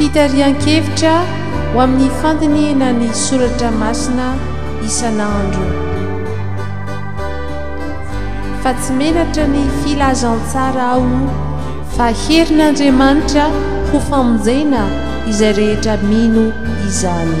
Fitarihan-kevitra ho amin'ny fandinihina ny soratra masina isan'andro. Fa tsy menatra ny filazantsara aho fa herin'Andriamanitra ho famonjena izay rehetra mino izany.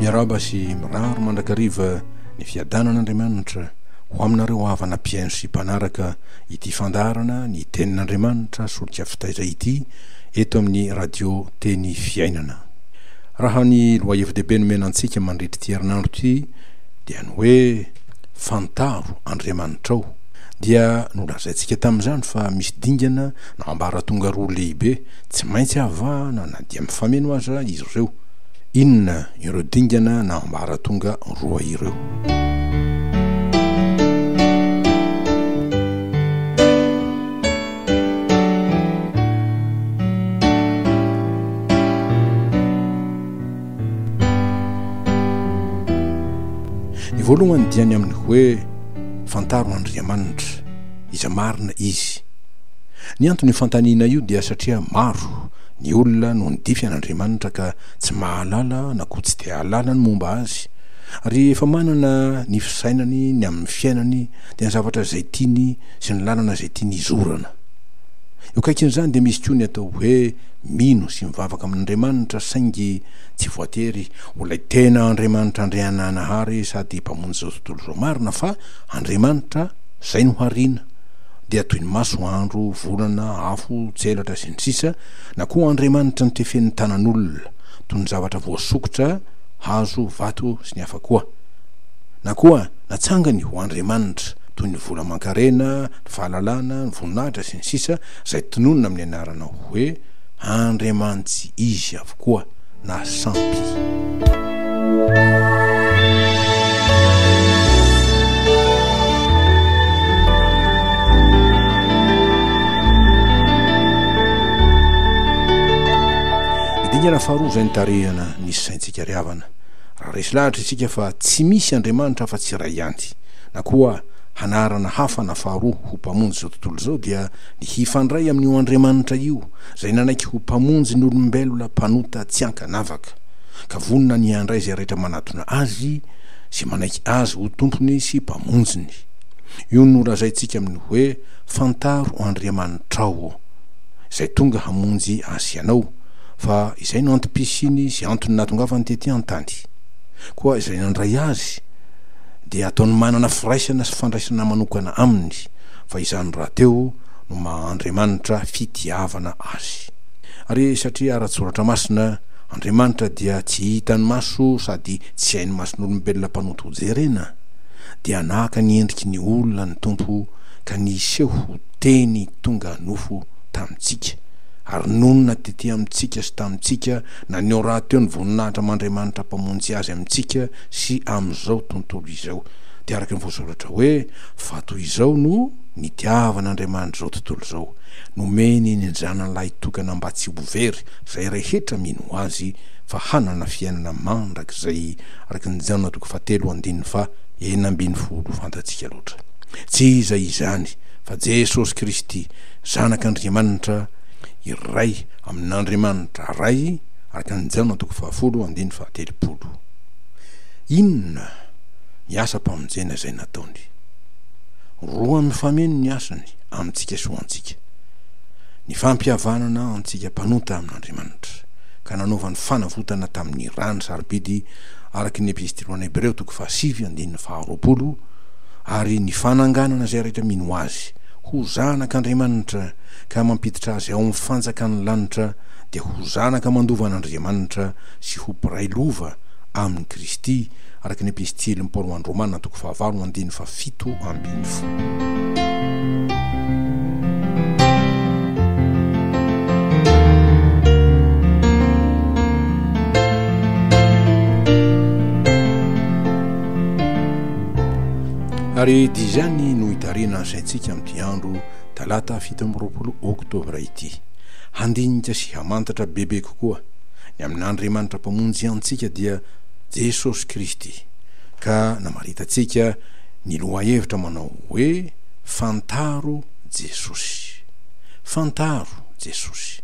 Miaraba sy miraro mandrakariva ny fiadanan'Andriamanitra ho aminareo havana mpihaino sy mpanaraka ity fandaharana ny tenin'Andriamanitra solika fitaiza ity eto amin'ny radio teny fiainana. Raha ny lohahevi-dehibe nomena antsika mandritra ity herinandro ity dia ny hoe fantaro Andriamanitrao dia nolazaintsika tamin'izany fa misy dingana Ambaratonga roa lehibe tsy maintsy avahana na dia mifameno aza izy ireo. Inona ireo dingana na ambaratonga roa ireo? Ny voalohany dia ny amin'ny hoe, Fantaro Andriamanitra, izay marina Izy. Ny anton'io fanontaniana io dia satria maro ny olona no nidify an'Andriamanitra ka tsy mahalala na koa tsy te hahalala ny momba Azy. Ary efa manana ny fisainany ny amin'ny fiainany dia ny zavatra izay tiany sy ny lalana izay tiany hizorana. Eo akaikin'izany dia misy koa ny atao hoe mino sy mivavaka amin'Andriamanitra saingy tsy voatery ho ilay tena Andriamanitra Andriananahary sady Mpamonjy izao tontolo izao marina fa Andriamanitra izay no hariana, dia toy ny maso, andro, volana, afo, tselatra, sy ny sisa Na koa Andriamanitra no tefen'ny tanan'olona, toy ny zavatra voasokitra, hazo, vato, sy ny hafa koa. Na koa natsangany ho andriamanitra, toy ny vola aman-karena, ny fahalalana, ny voninahitra, sy ny sisa, izay tononina amin'ny anarana hoe andriamanitsy izy avokoa. na sampy. Dingana faharoa izay nitarihana ny saintsika ry havana, raha resy lahatra isika fa tsy misy Andriamanitra afa tsy iray ihany, na koa hanarana hafa na faharoa ho mpamonjy izao tontolo izao dia ny hifandray amin'io Andriamanitra io, izay nanaiky ho Mpamonjy ny olombelona mpanota tsy an-kanavaka, ka vonona ny handray izay rehetra manatona Azy sy manaiky Azy ho Tompony sy Mpamonjiny. Io no lazaintsika amin'ny hoe, Fantaro Andriamanitrao, ô, Izay tonga hamonjy ahy sy ianao, fa Izay no antom-pisiany sy antony nahatongavany tetỳ an-tany. Koa izay nandray Azy, dia ataony manana firaisana sy fandraisana manokana Aminy, fa izany rahateo, no maha Andriamanitra fitiavana azy. Ary satria ara-tsoratra masina, Andriamanitra dia tsy hitan'ny maso sady tsy hain'ny mason'olombelona mpanonto hojerena, dia naka ny endriky ny olona ny Tompo ka niseho ho Teny tonga nofo tamintsika, ary nonina tety amintsika sy tamintsika, naneho rahateo ny voninahitra aman-dRiamanitra Mpamonjy Azy amintsika sy amin'izao tontolo izao. Dia araka ny voasoratra hoe, Fa toy izao no. Nitiavan' Andriamanitra izao tontolo izao, nomeny ny Zanany lahitokana mba tsy ho very izay rehetra mino Azy fa hanana fiainana mandrakizay, araka ny Jaona toko fahatelo andininy faha enina ambin'ny folo, fantatsika loatra. Tsy iza izany fa Jesosy Kristy, Zanak' Andriamanitra iray amin' Andriamanitra Ray, araka ny Jaona toko fahafolo andininy faha telopolo. Inona ny asa-pamonjena izay nataony? Roa mifameno ny hasiny amintsika sy ho antsika, ny fampihavanana antsika mpanota amin'Andriamanitra, ka nanaovany fanavotana tamin'ny rany sarobidy araka ny Epistily ho an'ny Hebreo toko fahasivy andininy faharoapolo, ary ny fananganana izay rehetra mino Azy ho zanak'Andriamanitra ka mampiditra azy ao amin'ny fanjakan'ny lanitra dia ho zanaka mandova an'Andriamanitra sy ho mpiray lova amin'i Kristy araka ny Epistily ny Paoloan'ny Romana toko fahavalo andininy fahafito ambin'ny folo. ary di izany no hitarina asaintsika amin'ity andro talata fito amby roapolo oktobra ity handinika sy hamantatra bebe kokoa ny amin'andriamanitra mpamonjy antsika dia Jesosy Kristy, ka namaritantsika ny lohahevitra manao hoe Fantaro Jesosy. Fantaro Jesosy.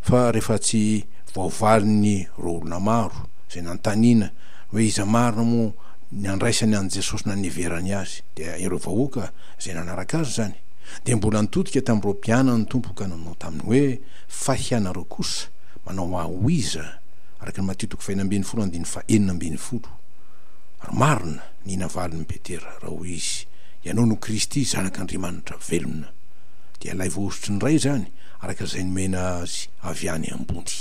Fa rehefa tsy voavalin'ny ireo olona maro izay nanontaniana hoe iza marina moa ny andraisany an'i Jesosy na niheverany Azy, dia ireo vahoaka izay nanaraka Azy izany, dia mbola nitodika tamin'ireo mpianany ny Tompo ka nanao taminy hoe, Fa hianareo kosa manao ahoiza? araka ny Matio toko fahena ambin'ny folo andininy fahenina ambin'ny folo. Ary marina ny navalin'i Petera, raha hoy izy, Ianao no Kristy, Zanak'Andriamanitra velona. Dia ilay voahosotry ny Ray izany, araka izay nomena azy avy any ambony.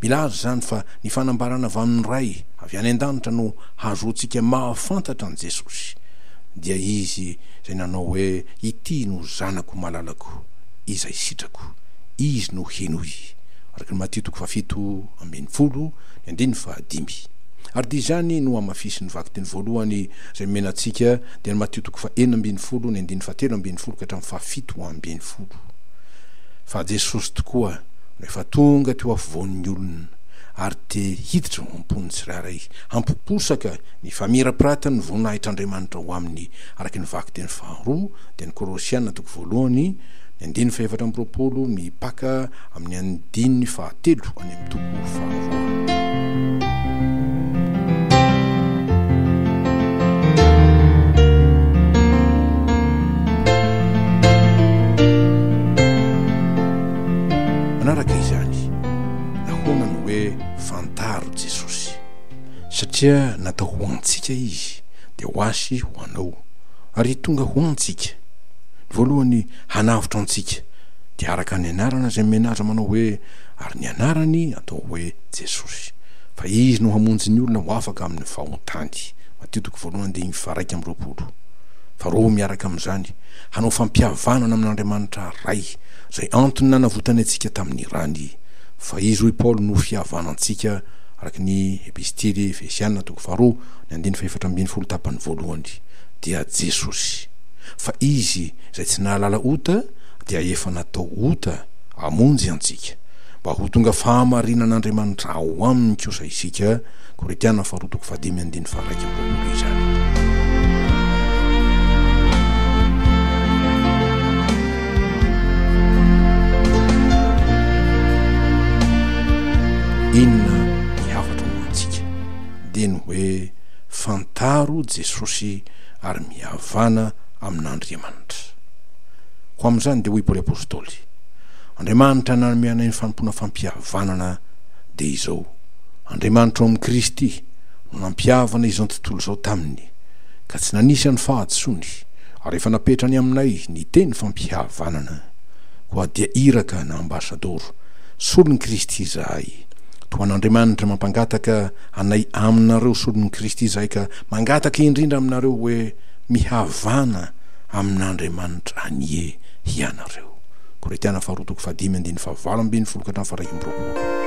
Milaza izany fa ny fanambarana avy amin'ny Ray avy any an-danitra no hahazoantsika mahafantatra an'i Jesosy, dia Izy izay nanao hoe, Ity no Zanako malalako, izay sitrako. Izy no henoy. araka ny Matio toko fahafito ambin'ny folo ny andininy fahadimy. Ary dia izany no hamafisin'ny vakiteny voalohany izay nomena antsika, dia ny Matio toko fahenina ambin'ny folo ny andininy fahatelo ambin'ny folo ka hatramin'ny fahafito ambin'ny folo, fa Jesosy tokoa no efa tonga teo afovoan'ny olona ary te hiditra ao am-pon'ny tsirairay, hampiposaka ny famirapiratan'ny voninahitr'Andriamanitra ho aminy, araka ny vakiteny faharoa, dia ny Kolosiana toko voalohany ny andininy fahefatra amby roapolo, ny mpaka Amin'ny andininy fahatelo any amin'ny toko faharoa. Manaraka izany, nahoana no hoe fantaro Jesosy? Satria natao ho antsika Izy, dia ho ahy, ho anao, ary tonga ho antsika. Ny voalohany, hanavotra antsika. dia araka ny anarana izay nomena azy manao hoe, ary ny anarany atao hoe Jesosy, fa izy no hamonjy ny olona ho afaka amin' ny fahotany. Matio toko voalohany diny faharaika amby roapolo. Faharoa, miaraka amin' izany, hanao fampihavanana amin' Andriamanitra Ray, izay antony nanavotany antsika tamin' ny rany, fa izy hoy Paoly no fihavanantsika, araka ny Epistily Efesiana toko faharoa ny andiny fahefatra ambin'ny folo tapany voalohany, dia Jesosy, fa izy izay tsy nahalala ota, dia efa natao ota hamonjy antsika, mba ho tonga fahamarinan'Andriamanitra ao aminy kosa isika, Korintiana faharoa toko fahadimy andininy faha-iraika amby roapolo izany. Inona ny hafatra ho antsika? Dia ny hoe, Fantaro Jesosy ary mihavana amin'Andriamanitra. Koa amin'izany dia hoy Paoly Apostoly, Andriamanitra nanome anay ny fanompoana fampihavanana dia izao, Andriamanitra ao amin'i Kristy no nampihavana izao tontolo izao taminy, ka tsy nanisy an'i fahadisoany, ary efa napetrany aminay ny teny fampihavanana. Koa dia iraka na ambasadoro, solon'i Kristy izahay, toa an'Andriamanitra mampangataka anay aminareo solon'i Kristy izahay ka mangataka indrindra aminareo hoe mihavana amin'Andriamanitra anie hianareo. Korintiana faharoa toko fahadimy andininy fahavalo ambin'ny folo ka hatramin'ny faharaika amby roapolo.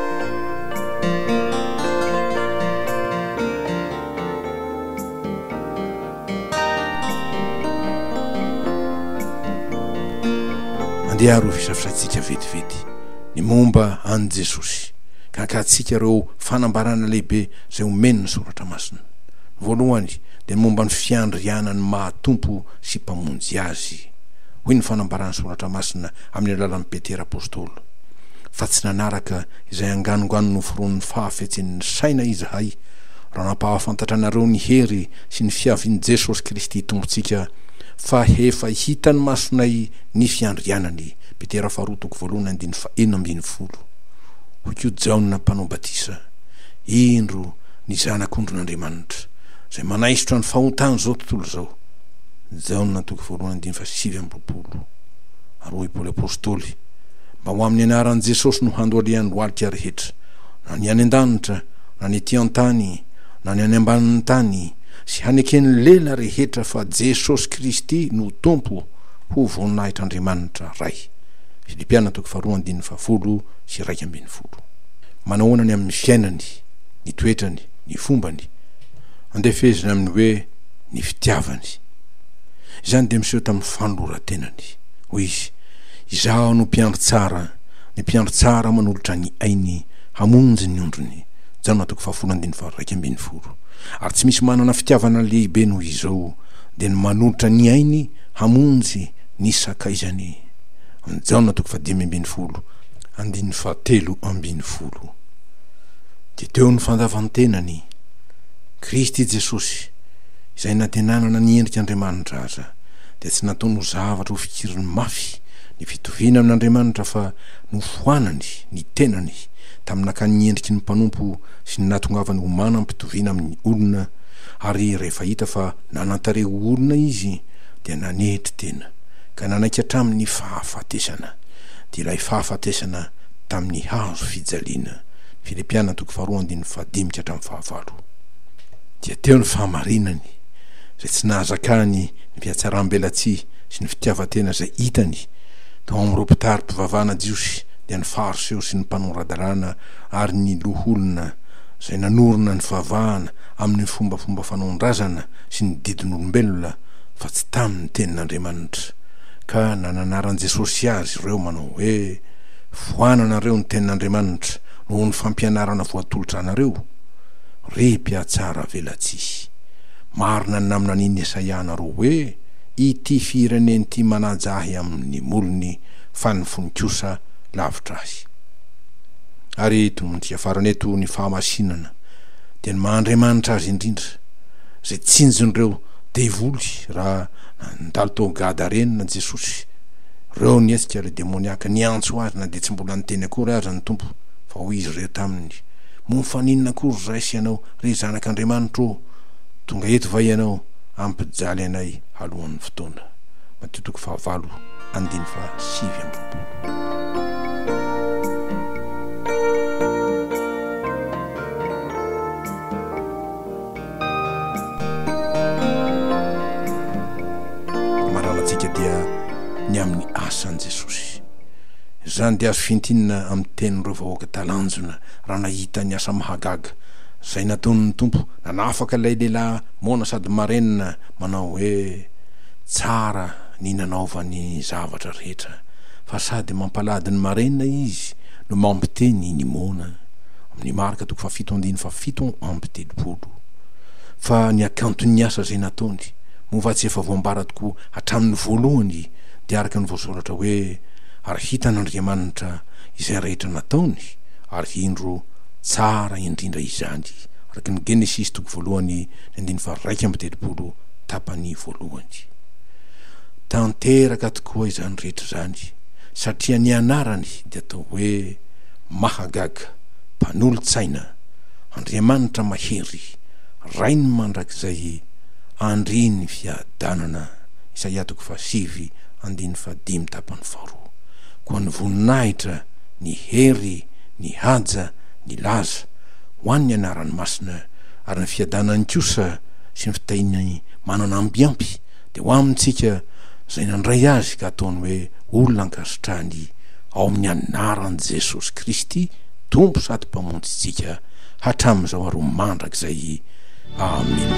Andeha ary hofisafisaintsika vetivety ny momba an'i Jesosy, ka ankahatsika ireo fanambarana lehibe izay omen'ny Soratra Masina. Voalohany, dia momba ny fiandriana ny maha Tompo sy Mpamonjy azy, hoy ny fanambaran'ny Soratra Masina amin'ny alalan'i Petera Apostoly, fa tsy nanaraka izay anganongano noforonin'ny fahafetsen'ny saina izahay, raha nampahafantatra anareo ny hery sy ny fiavian'i Jesosy Kristy Tompontsika, fa efa hitan'ny masonay ny fiandrianany, Petera faharoa toko voalohany andininy fahenina ambin'ny folo. Hoy koa Jaona Mpanao Batisa, Indro ny Zanak'ondrin'Andriamanitra. izay manaisotra ny fahotan'izao tontolo izao. Jaona toko faharoa andininy faha sivy amby roapolo. Ary hoy Paoly Apostoly, Mba ho amin'ny anaran'i Jesosy no handoalian'ny lohalika rehetra, na ny any an-danitra, na ny ety an-tany, na ny any ambanin'ny tany, sy haneken'ny lela rehetra fa Jesosy Kristy no Tompo, ho voninahitr'Andriamanitra Ray. Filipiana toko faharoa andininy fahafolo sy iraika ambin'ny folo. Manahoana ny amin'ny fiainany, ny toetrany, ny fombany, andefezina amin'ny hoe ny fitiavany. Izany dia miseho tamin'ny fanoloran-tenany. Hoy izy, Izaho no mpiandry tsara, ny mpiandry tsara manolotra ny ainy hamonjy ny ondriny, Jaona toko fahafolo andininy faha-iraika ambin'ny folo. Ary tsy misy manana fitiavana lehibe noho izao, dia ny manolotra ny ainy hamonjy ny sakaizany. Jaona toko fahadimy ambin'ny folo andininy fahatelo ambin'ny folo. Dia teo ny fandavan-tenany, Kristy Jesosy, izay na dia nanana ny endrik' Andriamanitra aza, dia tsy nataony ho zavatra hofikiriny mafy ny fitoviana amin' Andriamanitra fa nofoanany ny tenany tamin'ny nakany ny endriky ny mpanompo sy ny nahatongavany ho manam-pitoviana amin'ny olona, ary rehefa hita fa nanan-tarehy ho olona izy dia nanetry tena ka nanaiky hatramin'ny fahafatesana, dia ilay fahafatesana tamin'ny hazo fijaliana. ny Filipiana toko faharoa andininy fahadimy ka hatramin'ny fahavalo. Dia teo ny fahamarinany, izay tsy nahazakany ny fihatsaram-belatsihy sy ny fitiavan-tena izay hitany tao amin'ireo mpitari-pivavahana jiosy, dia ny Fariseo sy ny mpanora-dalàna ary ny loholona izay nanorina ny fivavahana amin'ny fombafomba fanaon-drazana sy ny didin'olombelona fa tsy tamin'ny tenin'Andriamanitra. Ka nananaran'i Jesosy azy ireo manao hoe. Voananareo ny tenin'Andriamanitra noho ny fampianarana voatolotra anareo, ry mpiatsara velatsihy. Marina ny naminanian'i Esaia anareo hoe, Ity firenena ity manaja ahy amin'ny molony, fa ny fony kosa lavitra ahy. Ary tononontsika farany eto ny fahamasinana dia ny maha Andriamanitra azy indrindra, izay tsinjon'ireo devoly raha nandalo tao Gada Renina Jesosy. Reo ny hetsika ry demoniaka, niantso azy na dia tsy mbola niteny akory aza ny Tompo, fa hoy izy ireo taminy, Moa fa n'inona akory ray sy ianao, ry zanak'Andriamanitra ô, tonga eto va ianao hampijaly anay alohan'ny fotoana? Matio toko fahavalo andiny fahasivy amby roapolo. Maralantsika dia ny amin'ny asan'i Jesosy. Izany dia azo fintinina amin'ny tenin'ireo vahoaka talanjona raha nahita ny asa mahagaga izay nataon'ny Tompo nanafaka ilay lehilahy moana sady marenina manao hoe, Tsara ny nanaovany zavatra rehetra, fa sady mampalahdy ny marenina izy no mampiteny ny moana. amin'ny Marka toko fahafito andininy fahafito amby telopolo, fa ny hakanton'ny asa izay nataony, moa va tsy efa voambara tokoa hatramin'ny voalohany, dia araka ny voasoratra hoe, Ary hitan'Andriamanitra izay rehetra nataony, ary indro, tsara indrindra izany, araka ny Genesisy toko voalohany ny andininy faha-iraika amby telopolo, tapany voalohany. Tanteraka tokoa izany rehetra izany, satria ny anarany dia atao hoe, Mahagaga, Mpanolo-tsaina, Andriamanitra mahery, Rainy mandrakizay, Andrii ny fiadanana, Isaia toko fahasivy andininy fahadimy tapany faharoa. Koa ny voninahitra, ny hery, ny haja, ny laza, ho an' ny anarany masina, ary ny fiadanany kosa sy ny fitahiany manana ambiampy, dia ho amintsika izay nandray azy ka ataony hoe olona ankasitrahany ao amin'ny anaran'i Jesosy Kristy Tompo sady Mpamonjintsika hatramin'izao ary ho mandrakizay. Amena.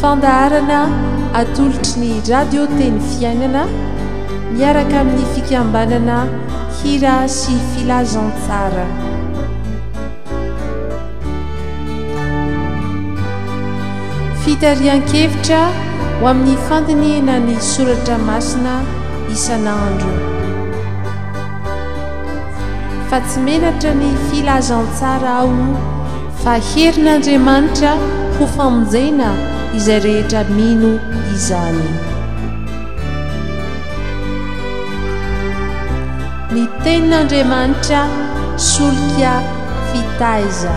Fandaharana atolotry ny Radio Teny Fiainana miaraka amin'ny fikambanana Hira sy Filazantsara. Fitarihan-kevitra ho amin'ny fandinihana ny soratra masina isan'andro. Fa tsy menatra ny filazantsara aho Fa herin'Andriamanitra ho famonjena izay rehetra mino izany. Ny Tenin'Andriamanitra solika fitaiza.